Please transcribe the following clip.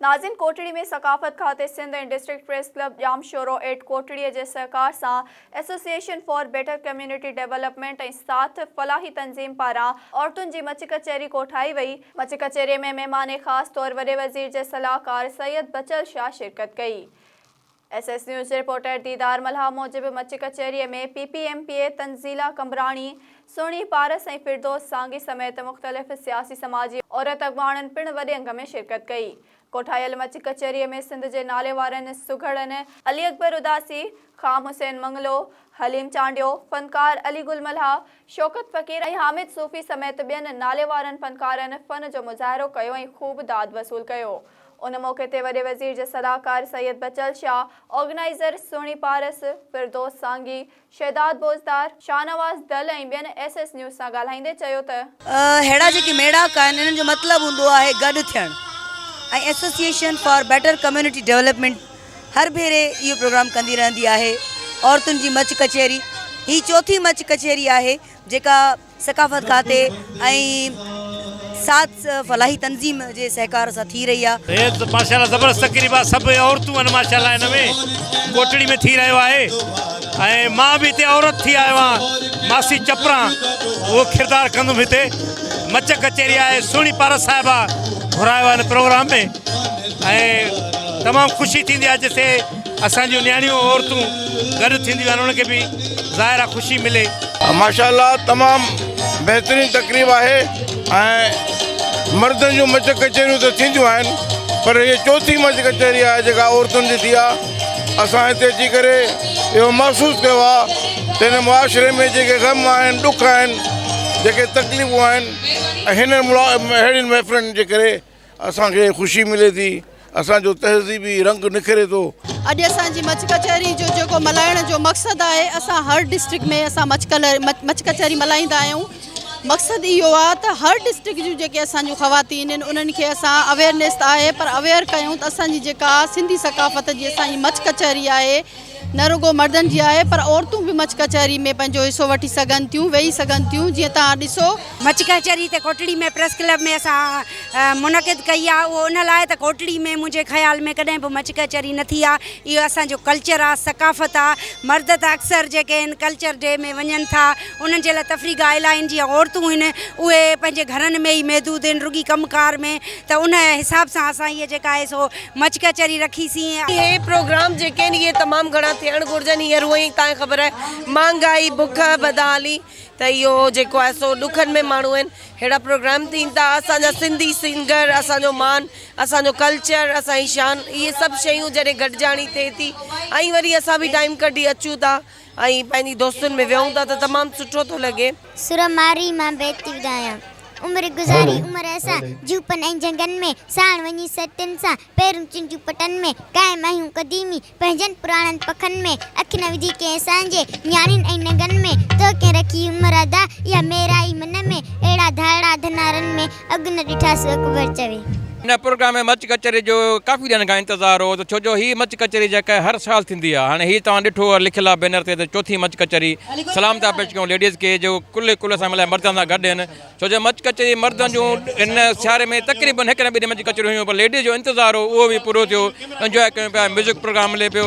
ناظم ڪوٽڙي ۾ ثقافت کاتي Sindh ۽ district press club Jamshoro at Kotri جي سهڪار سان association for better community development ۽ ساٿ فلاحي تنظيم پاران عورتن جي مچ ڪچهري ڪوٺائي وئي، مچ ڪچهري ۾ مهمان خاص طور وڏي وزير جي صلاحڪار سيد بچل شاهه شرڪت ڪئي. S S news reporter Didar Mallah موجب مچ ڪچهري ۾ P P M P A Tanzila Qambrani, Sohni Paras ۽ فردوس سانگي سميت مختلف سياسي سماجي عورت اڳواڻن پڻ وڏي انگ ۾ شرڪت ڪئي. ڪوٺايل مچ ڪچهري ۾ سنڌ جي ناليوارن سگهڙن، علي اڪبر اداسي، خام حسين منگلو، حليم چانڊيو، فنڪار علي گل ملاح، شوڪت فقير ۽ حامد صوفي سميت ٻين ناليوارن فنڪارن فن جو مظاهرو ڪيو ۽ خوب داد وصول ڪيو. ان موقعي تي وڏي وزير جي صلاحڪار سيد بچل شاهه، آرگنائيزر سهڻي پارس، فردوس سانگي، شهداد بوزدار، شاهنواز دل ۽ ٻين ايس ايس نيوز سان ڳالهائيندي چيو ته. اهڙا جيڪي ميڙاڪ آهن انهن جو مطلب هوندو آهي گڏ ٿيڻ ۽ association for better community development هر ڀيري اهو پروگرام ڪندي رهندي آهي عورتن جي مچ ڪچهري هي چوٿين مچ ڪچهري آهي جيڪا ثقافت کاتي ۽ ساٿ فلاحي تنظيم جي سهڪار سان ٿي رهي آهي. هيء ته ماشاء الله زبردست تقريب آهي سڀ عورتون آهن ماشاء الله هن ۾ ڪوٽڙي ۾ ٿي رهيو آهي ۽ مان به هتي عورت ٿي آيو آهيان ماسي چپران اهو ڪردار ڪندم هتي مچ ڪچهري آهي سهڻي پارس صاحبه گهرايو آهي هن پروگرام ۾ ۽ تمام خوشي ٿيندي آهي جتي اسان جون نياڻيون عورتون گڏ ٿينديون آهن انهن کي به ظاهر آهي خوشي ملي. ماشاء الله تمام بهترين تقريب آهي ۽ مردن جون مچ ڪچهريون ته ٿينديون آهن پر هيء چوٿين مچ ڪچهري آهي جيڪا عورتن جي ٿي آهي اسان هتي اچي ڪري اهو محسوس ڪيو آهي ته هن معاشري ۾ جيڪي غم آهن ڏک آهن جيڪي تڪليفون آهن هنن اهڙين محفلن جي ڪري اسان کي خوشي ملي ٿي. اسان جو تهذيبي رنگ نکري ٿو. اڄ اسان جي مچ ڪچهري جو جيڪو ملهائڻ جو مقصد آهي اسان هر ڊسٽرڪٽ ۾ اسان مچ مچ ڪچهري ملهائيندا آهيون مقصد اهو آ ته هر ڊسٽرڪٽ جون جيڪي اسان جون خواتين آهن انهن کي اسان اويرنيس آهي پر اوير ڪيون ته اسان جي جيڪا سنڌي ثقافت جي اسان جي مچ ڪچهري آهي نه رڳو مردن جي آهي پر عورتون به مڇ ڪچهري ۾ پنهنجو حصو وٺي سگهن ٿيون ويهي سگهن ٿيون جيئن توهان ڏسو. مڇ ڪچهري ته ڪوٽڙي ۾ پريس ڪلب ۾ اسان منعقد ڪئي آهي اهو ان لاء ته ڪوٽڙي ۾ منهنجي خيال ۾ ڪڏهن به مڇ ڪچهري نه ٿي آهي اهو اسان جو ڪلچر آهي ثقافت آهي مرد ته اڪثر جيڪي هن ڪلچر ڊي ۾ وڃن ٿا انهن جي لاء تفريح گاهه الائي آهن جيئن عورتون هن اهي پنهنجي گهرن ۾ ئي محدود آهن رڳي ڪم ڪار ۾ ته ان حساب سان اسان هي جيڪا آهي سو مچ ڪچهري رکي سين. اهي پروگرام جيڪي آهن اهي تمام گهڻا ٿيڻ گهرجن هينئر هونئن ئي تانکي خبر آهي مهانگائي بک بدحالي ته اهو جيڪو آهي سو ڏکن ۾ ماڻهو آهن ههڙا پروگرام ٿين ٿا اسان جا سنڌي سنگر اسان جو مان اسان جو ڪلچر اسان جي شان اهي سڀ شيون جڏهن گڏجاڻي ٿئي ٿي ۽ وري اسان به ٽائيم ڪڍي اچون ٿا. ائين پنهنجي دوستن ۾ ويهون ٿا ته تمام سٺو ٿو لڳي. سر مارئي مان بيت ٿي ڳايان. عمر گذاري عمر اسان جهوپن ۽ جهنگن ۾، ساڻ وڃي سرتين سان، پيرون چنڊيون پٽن ۾، قائم آهيون قديمي پنهنجن پراڻن پکن ۾، اک نه وجهي ڪنهن اسان جي، نياڻين ۽ ننگن ۾، تو ڪنهن رکي هئي مرادا، اها ميرائي من ۾، اهڙا ڌاڙا ڌنارن ۾، اڳ نه ڏٺاسين اڪبر چوي. هن پروگرام ۾ مچ ڪچهري جو ڪافي ڏينهن کان انتظار هو ته ڇو جو هي مچ ڪچهري جيڪا هر سال ٿيندي آهي هاڻي هي توهان ڏٺو اور لکيل آهي بينر تي ته چوٿين مچ ڪچهري سلام ٿا پيش ڪيون ليڊيز کي جو ڪلهي ڪلهه سان ملائي مردن سان گڏ آهن ڇو جو مچ ڪچهري مردن جون هن سياري ۾ تقريبن هڪ نه ٻه ڏينهن مچ ڪچهريون هيون پر ليڊيز جو انتظار هو اهو به پورو ٿيو انجوائي ڪيون پيا ميوزڪ پروگرام هلي پيو